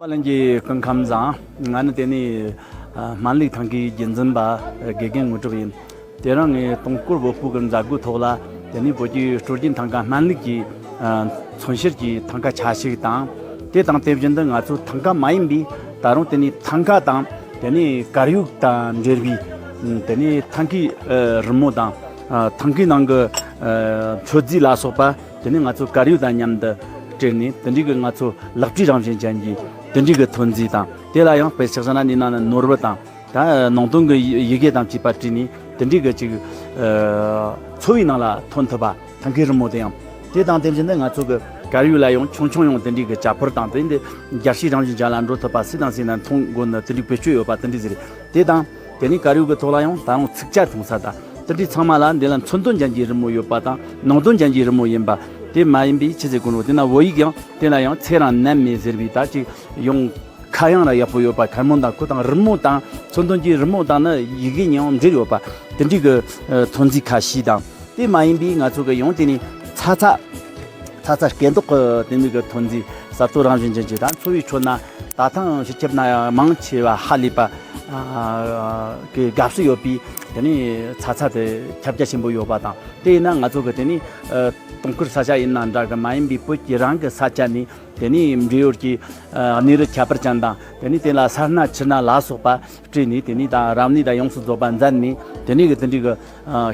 པ་ལན་གྱི་སྐུ་ཁམས་བཟང། ང་ནི་དེ་ནས་སྨན་ལུགས་ཐང་གའི་རྒྱུན་འཛིན་པ་དགེ་རྒན་དངོས་གྲུབ་ཡིན། དེ་རིང་ངས་སྟོང་སྐོར་བོད་ཕུག་གི་མཛད་སྒོའི་ཐོག་ལ་དེ་ནས་བོད་རྒྱའི་སྤྲོ་སྐྱིད་ཐང་ག་སྨན་ལུགས་ཀྱི་མཚོན་བྱེད་ཀྱི་ཐང་ག་ཆ་ཞིག་དང། དེ་དང་དེ་བཞིན་དུ་ང་ཚོ་ཐང་ག་མ་ཡིན་པའི་ད་རུང་དེ་ནས་ཐང་ག་དང་དེ་ནས་དཀར་ཡོལ་དང་འབྲེལ་བའི་དེ་ནས་ཐང་གའི་རི་མོ་དང་ཐང་གའི་ནང་གི་མཆོད་རྫས་ལ་སོགས་པ། དེ་ནས་ང་ཚོས་དཀར་ཡོལ་དང་མཉམ་དུ་དྲིལ་ནས་དེ་འབྲེལ་གྱི་ང་ཚོ་ལག་བྲིས་རང་བཞིན་ཅན་གྱི་དེ་འབྲེལ་གྱི་ཐོན་རྫས་དང་དེ་ལ་ཡང་བེད་ཕྱག་ཟ་ན་ནི་ནང་ནས་ནོར་བུ་དང་ནང་དོན་གྱི་ཡི་གེ་དང་བཅས་པ་བྲིས་ནས་དེ་འབྲེལ་གྱི་ཅིག་འཚོ་བའི་ནང་ལ་ཐོན་ཐུབ་པ་ཐང་གའི་རི་མོ་དེ་ཡང་དེ་དང་དེ་བཞིན་དུ་ང་ཚོ་གི་དཀར་ཡོལ་ལ་ཡང་ཆུང་ཆུང་ཡང་དེ་འབྲེལ་གྱི་བྱ་ཕོར་དང་དེ་འདྲའི་རྒྱགས་ཕྱེ་རང་བཞིན་ཅན་ལ་འགྲོ་ཐུབ་པ་སི་དང་སི་ནས་མཐོང་སྒོ་ནས་དེ་འབྲེལ་བེད་སྤྱོད་ཡོད་པ་དེ་འདྲས་ཟེར་དེ་དང། དེ་ནི་དཀར་ཡོལ་གྱི་ཐོག་ལ་ཡང་ད་རུང་ཚིག་བཅད་ཐུང་ས་དང་ཏི་ཏི་ཚང་མ་ལ་འདི་ལ་མཚོན་དོན་ཅན་གྱི་རི་མོ་ཡོད་པ་དང་ནང་དོན་ཅན་གྱི་རི་མོ་ཡིན་པ་དེ་མ་ཡིན་པའི་ཕྱི་ཚེ་ཀུན་རོགས་དེ་ན་བོད་ཡིག་ཡང་དེ་ལ་ཡང་ཚེག་རང་མནན་མེད་ཟེར་བའི་དག་ཅིག་ཡང། ཁ་གཡང་ར་ཡག་པོ་ཡོད་པ་ཁ་མོ་དང་ཁུ་དང་རི་མོ་དང་མཚོན་དོན་གྱི་རི་མོ་དང་ནི་ཡི་གེ་ཡང་འབྲེལ་ཡོད་པ་དེ་འདྲའི་གི་ཐོན་རྫས་ཁ་ཤས་དང་དེ་མ་ཡིན་པའི་ང་ཚོ་གི་ཡང་དེ་ནི་ཚ་ཚ། ཚ་ཚ་སྐད་མདོག་གི་དེ་འདྲའི་གི་ཐོན་རྫས་གསར་གཏོད་རང་བཞིན་ཅན་གྱི་དང་འཚོ་བའི་ཁྲོད་ན། ད་ཐེངས་སྤྱི་ཁྱབ་ན་ཡང་མང་ཆེ་བ་ཧ་ལས་པ་གི་དགའ་བསུ་ཡོད་པའི་དེ་ནས་ཚ་ཚ་དེ་ཁྱབ་རྒྱ་ཆེན་པོ་ཡོད་པ་དང་དེ་ཡིན་ན་ང་ཚོ་གི་དེ་ནས་དུང་ཁུར་ས་ཆ་ཡིན་ན་འདྲ་གི་མ་ཡིན་པའི་བོད་ཀྱི་རང་གི་ས་ཆ་ནས་དེ་ནས་འབྲེལ་ཡོད་ཀྱི་གནས་རི་ཁྱད་པར་ཅན་དང་དེ་ནས་དེ་ལ་སར་སྣ་ཕྱི་སྣ་ལ་སོགས་པ་སྤྲས་ནས་དེ་ནས་དང་རང་ནུས་དང་ཡོངས་སུ་རྫོགས་པ་མཛད་ནས་དེ་ནས་གི་འདི་འདྲའི་གི་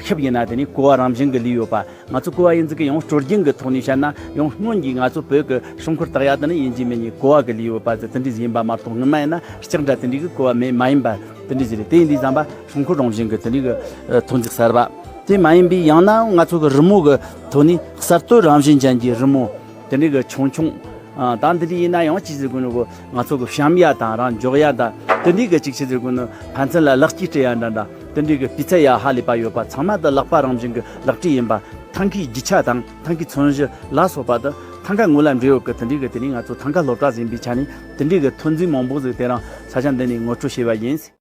ཤུབས་ཡིན་ན་དེ་ནི་ཀོའུ་བ་རང་བཞིན་གྱི་ལུས་ཡོད་པ་ང་ཚོ་ཀོའུ་བ་ཡིན་ཟེར་གི་ཡང་སྤྲོ་སྐྱིད་ཀྱི་ཐོག་ནས་བཤད་ན་ཡང་སྔོན་གྱི་ང་ཚོ་བོད་ཀྱི་ཧྲང་ཁུར་དག་ཡག་དེ་ནི་ཡིན་གྱི་མེད་ནི་ཀོའུ་བ་གི་ལུས་ཡོད་པ་ཟེར་དེ་འདྲའི་ཡིན་པ་མ་གཏོགས་དངོས་མ་ཡིན་ན་ལྕགས་འདྲ་དེ་འདྲའི་གི་ཀོའུ་བ་མེད་མ་ཡིན་པ་དེ་འདྲའི་ཞིག་རེད་དེ་འདྲའི་བསམ་པ་ཧྲང་ཁུར་རང་བཞིན་གྱི་དེ་འདྲའི་གི་ཐོན་རྫས་གསར་པ་དེ་མ་ཡིན་པའི་ཡང་ན་ང་ཚོ་གི་རི་མོ་གི་ཐོག་ནས་གསར་གཏོད་རང་བཞིན་ཅན་གྱི་རི་མོ་དེ་འདྲའི་གི་ཆུང་ཆུང་དང་དེ་འདྲའི་ཡིན་ན་ཡང་ཅིག་ཟེར་དགོས་ནི་གོ་ང་ཚོ་གི་བཤམས་ཡ་དང་རང་འཇོག་ཡ་དང་དེ་འདྲའི་གི་ཅིག་ཆེད་ཟེར་དགོས་ནི་ཕན་ཚུན་ལ་ལེགས་སྐྱེས་སྤྲད་ཡ་འདྲ་འདྲ། དེ་འདྲའི་སྤུས་ཚད་ཡག་ཧ་ལས་པ་ཡོད་པ་ཚང་མ་དང་ལག་པ་རང་བཞིན་གྱི་ལག་དྲི་ཡིན་པ། ཐང་གའི་རྒྱུ་ཆ་དང་ཐང་གའི་ཚོན་བཞི་ལ་སོགས་པ་དང་ཐང་ག་ངོས་ལ་འབྲེལ་ཡོད་ཀྱི་དེ་འདྲའི་གི་དེ་ནི་ང་ཚོ་ཐང་ག་སློབ་གྲྭར་ཟིན་པའི་ཆ་ནས་དེ་འདྲའི་གི་ཐོན་རྫས་མང་པོ་ཟིག་དེ་རང་ས་ཆ་འདི་ནས་ངོ་སྤྲོད་བྱས་པ་ཡིན།